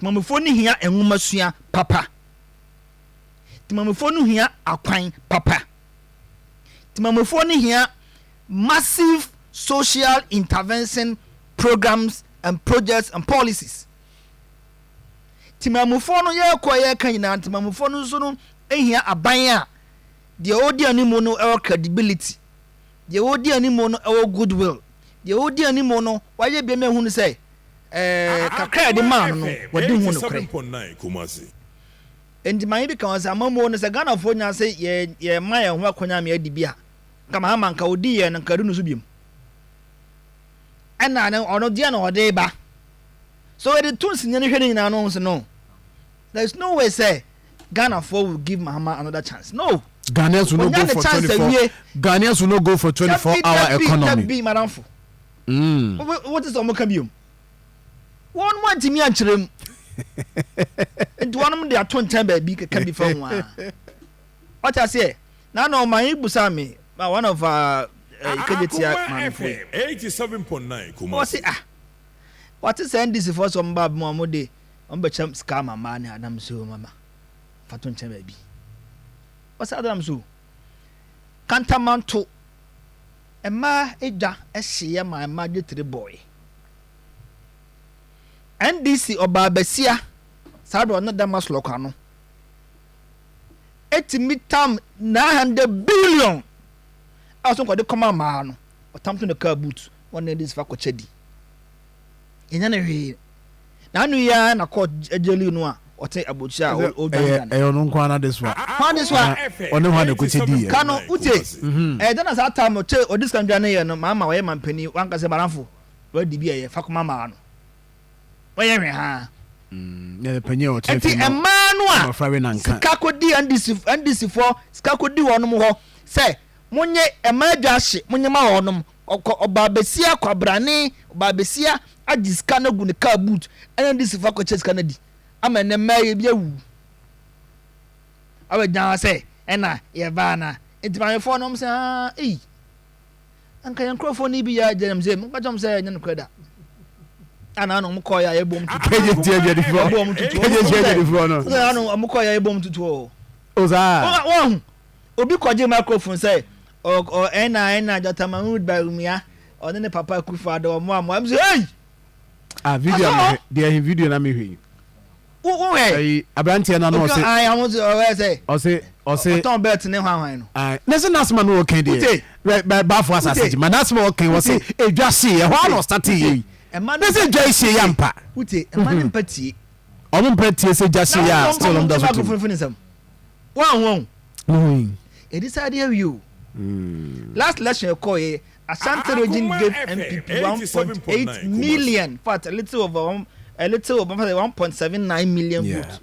Temamufoɔ no hia nwomasua papa. Temamufoɔ no hia akwan papa. Temamufoɔ no hia massive social intervention programs and projects and policies. Temamufoɔ no yɛrekɔ yɛreka nyinaa temamufoɔ no nso no hia aban a deɛ ɔredi anim no ɛwɔ credibility Deɛ ɔdi anim no wɔ goodwill. Deɛ ɔdi anim no, wayɛ biribi ama ahunu sɛ kakra a yɛde maa no no, wadi ho nokorɛ. Enti maame bi ka ho sɛ, amammuo no, sɛ Ghanafoɔ nya sɛ yɛma yɛn ho akɔnya ma yɛadi bi a, nka Mahama nka ɔdi yɛn no, nka ɛdu ne so biom. Ɛna ɔno deɛ na ɔde ba. So yɛde to nsinyɛ no hwɛ ne nyinaa no, ɔhu sɛ no. There is no way sɛ Ghana foɔ will give Mahama another chance no. Ghanaians will not go for 24 Ghanaians will not go for 24 hour economy. Dabi dabi madamfo. Mm. What is omo ka biom? Wɔn mo antimi ankyerɛ mu. Nti wɔn mo de ato nkyɛn baabi keka bi fa ho a. Ɔte aseɛ. Na na ɔman yi busa me ma one of uh, ikejetia maame fo. 87.9 Kumasi. Ɔse ah. Wɔte sɛ NDC foɔ sɛ ɔmo ba bɛma ɔmo de. Ɔmbɛkyɛ sika ama mbaa ne anam so ma ma fa to nkyɛn baabi. Ɔsɛ adze nam so o. Kantamanto, mbaa edwa hyeyɛ ma mbaa dze tere bɔɔe. NDC ɔbaa basia saa do ɔne dɛm aslɔkwa no etumi tam nine hundred billion a ɔsɛ nkɔde kɔma mbaa no, ɔtam to ne kaa boot, ɔne NDC fa kɔkyɛ di. yɛnyɛ no hwee na ano yi ara na court gyeli no a ɔte abotire a ɔdwanedwane. ɛyɛ ɔno nko ara n'adesoa. hwan adesoa? ɔne hwan na ɛkɔti diiɛ. ka no wotie ɛyɛ dɛn na saa tam no te ɔde sika dwaneeɛ no ma ama ɔyɛ mampanin wanka sɛ baranfo wadi bi a ɛyɛ fa kɔma mmaa no wɔyɛ hwee haa ɛnti mmaa no a sika kɔdi NDC NDC foɔ sika kɔdi wɔnom hɔ sɛ monye mmaa adwa ahye monye ma wɔnom Ɔkɔ ɔbaa basia kwabrane ɔbaa basia agye sika no agu ne car boot ɛna ne sifo akɔkyɛ sika no adi ama ɛnɛ mmaa yɛ bi awuwu awɔ gyina hɔ sɛ ɛna yɛ baa na nti mamefoɔ no ɔmo sɛ aa ei anka yɛn nkorɔfoɔ no bi yɛ agye nam sɛ mokɔ kyɛm sɛ ɛnyɛ no korɛ da ana na ɔmo kɔɔ yɛ a yɛbɔ ɔmo tutu kɛgye ti agye difoɔ kɛgye ti agye difoɔ no ana ɔmo kɔɔ yɛ a yɛbɔ ɔmo tutu ɔɔ ɔzaa wɔn ho Obi kɔgyee microphone sɛ ɔ ɔ ɛna ɛna Dɔkta Mahmood Bawumia ɔne ne papa Akufo Addo ɔmo a mo a mo sɛ hey! Ah video a mehwɛ deɛ he video na mehwɛ yi. Wo wo hwɛ? Ayi aberanteɛ na na ɔse. Obi ayi ɔmo sɛ ɔyɛ sɛ. Ɔse ɔse. Ɔtɔn belt ne hwan hwan no. Ayi na se n'asema no ɔkɛn deɛ. Ute. Bɛ bɛ baafo asase gye ma n'asema ɔkɛn ɔse edwa see ɛhɔ a na ɔstate yɛ yi. Na se edwa esie yɛ ampa. Ute ɛma ne mpa tie. Ɔmo mpa tie se edwa see yɛ a still ɔmo da so te mu. wɔn wɔn ɛdi saa deɛ awie o last election ɛkɔ yɛ Ashanti region gave NPP 1.8 million fat a little over one a little over 1.79 million vote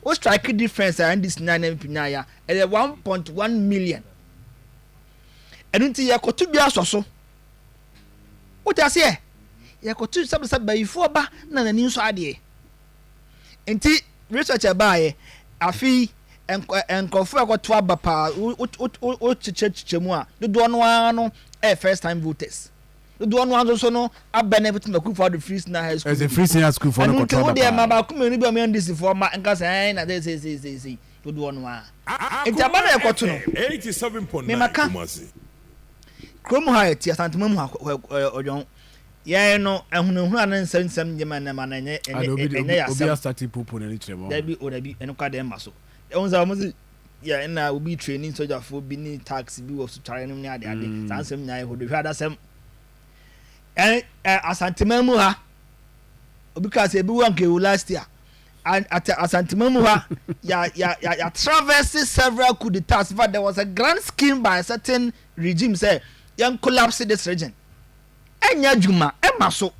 o strike difference a NDC nyaa na NPP nyaa ya ɛyɛ 1.1 million ɛno nti yɛkɔto bi asɔ so wote aseɛ yɛkɔto sɛbsɛ bayifoɔ ba na n'ani nso adeɛ Nti research a ɛbaeɛ afe yi nkurɔfoɔ a ɛkɔto aba paa wokyekyɛkyekyɛ mu a dodoɔ no ara no ɛyɛ first time voters dodoɔ no ara nso so no abɛn ɛfiti na kurufo ado firi senior high school ɛsɛ firi senior high school fo no kɔto aba paa ɛnu nti wodeɛ ma baako mmienu bi a wɔn ndc foɔ ma nkasa ɛn na sɛ sɛ sɛ sɛ sɛ dodoɔ no ara nti aba na ɛkɔto no mɛma ka kurom ha ɛte asantuma mu ha ɔdwɔn. Yɛn no ahunahuna ne nsɛmnsɛm nye ma nnɛ ma no ɛnyɛ ɛnyɛ ɛnyɛ yɛ asɛm. Obi asate popo n'ani kyerɛ mu. Dabi o dabi ɛno kwa dɛn ma so. Ɛwɔ sɛ wɔn se yɛ ɛna obi training sogyafoɔ bi ne tax bi wɔ sotware nom ne ade ade saa nsɛm nyinaa yɛ hodohwɛ adasɛm. Ɛ ɛ asanteman mu ha obi kaa sɛ ebi wɔ anka ewu last year at asanteman mu ha ya ya ya ya traverse several coup d'etats but there was a grand scheme by a certain regime sɛ yɛn collapse this region ɛnyɛ adwuma ɛma so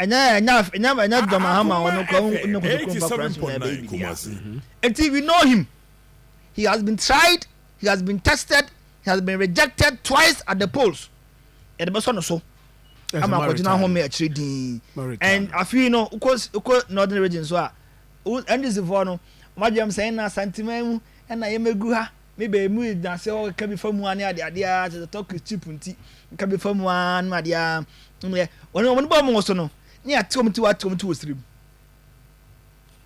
ɛnyɛ ɛnyɛ ɛnyɛ ɛnyɛ John Mahama ɔno kɔ ɔno kɔ sukuu mpa kura so na ɛbɛ yi bi eti we know him he has been tried he has been tested he has been rejected twice at the polls yɛde bɛ sɔ no so ama akɔgyina ho mi akyire din and afei no kɔ kɔ northern region so a ndc foɔ no wɔn adwuma mu sɛ ɛna santima mu ɛna yɛmɛgu ha me baa mu gyina sɛ ɔka bi fa mu ara ne ade ade ara kyerɛ sɛ tɔkis chip nti ɔka bi fa mu ara ne ade ara mmɛ wɔn wɔn bɔ wɔn so no ne yɛate wɔn ti wɔate wɔn ti wɔ siri mu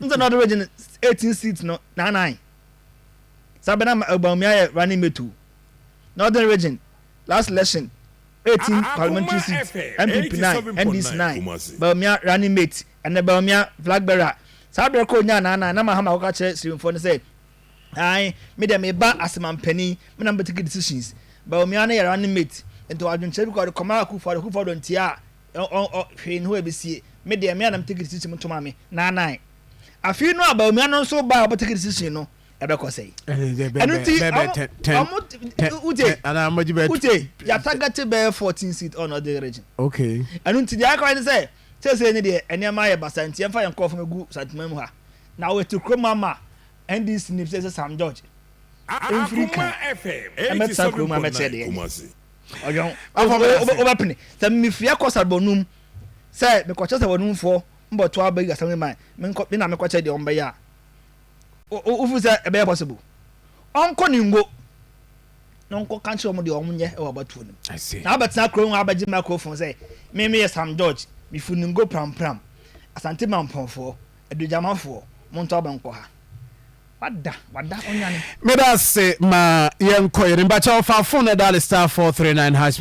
n sɛ na ɔde regye no eighteen seat no nanan saa bɛ na Bawumia yɛ running mate o na ɔde regye last election eighteen parliamentary seat NPP nine NDC nine Bawumia running mate ɛnna Bawumia flag bearer saa bɛrɛ kɔ onyaa nanan na mahama akɔka kyerɛ sirimfoɔ no sɛ. Ae, me deɛ meba ase ma mpanin, me na mɛtake decisions. Bawumia ne yɛ running mate, nti ɔwɔ adwenkyerɛ bi koraa ɔde kɔma Akuffo Addo, Akuffo Addo ntie a, ɔn ɔ hwee nni hɔ a ɛbɛsie. Me deɛ, me a na metake decision mu to maame, Naa Naae. Afei no a Bawumia no nso bae a ɔbɛtake decision no, ɛbɛkɔ sɛi. Ɛno nti, ɔmo, ɔmo, wotie, wotie, yɛatargete bɛyɛ fourteen seats ɔn ɔde region. Ɛno nti, deɛ aka ara ne sɛ, seesei no deɛ, nneɛma ayɛ basaa nti yɛmfa yɛn nkorɔfo mmɛgu Santeman mu ha, na wɔatu kurom ama. NDC nim sɛ ɛsɛ Sam George mfiri kan ɛmɛtena kurom amɛkyerɛ deɛ ɛnyɛ ɔyɔn afɔ wobɛpene sɛ mefiri akɔ saribɔnum sɛ mekɔkyɛ saribɔnumfoɔ mbɔto aba yi asɛm ma me na mekɔkyɛ deɛ ɔmbɛyɛ a wofiri sɛ ɛbɛyɛ possible ɔnkɔ ne ngo na ɔnkɔ ka nkyerɛ ɔmo deɛ ɔmo nyɛ ɛwɔ abatuo no na abɛtena kurom abɛgye microphone sɛ me meyɛ Sam George mefiri ne ngo prampram asante mampɔnfoɔ Adugyamafoɔ, montɔ aba nkɔ ha. Wada, wada, ɔnwane. Meda ase ma yɛnkɔ yɛ ne mba kyɛw fa phone na dial star four three nine hash.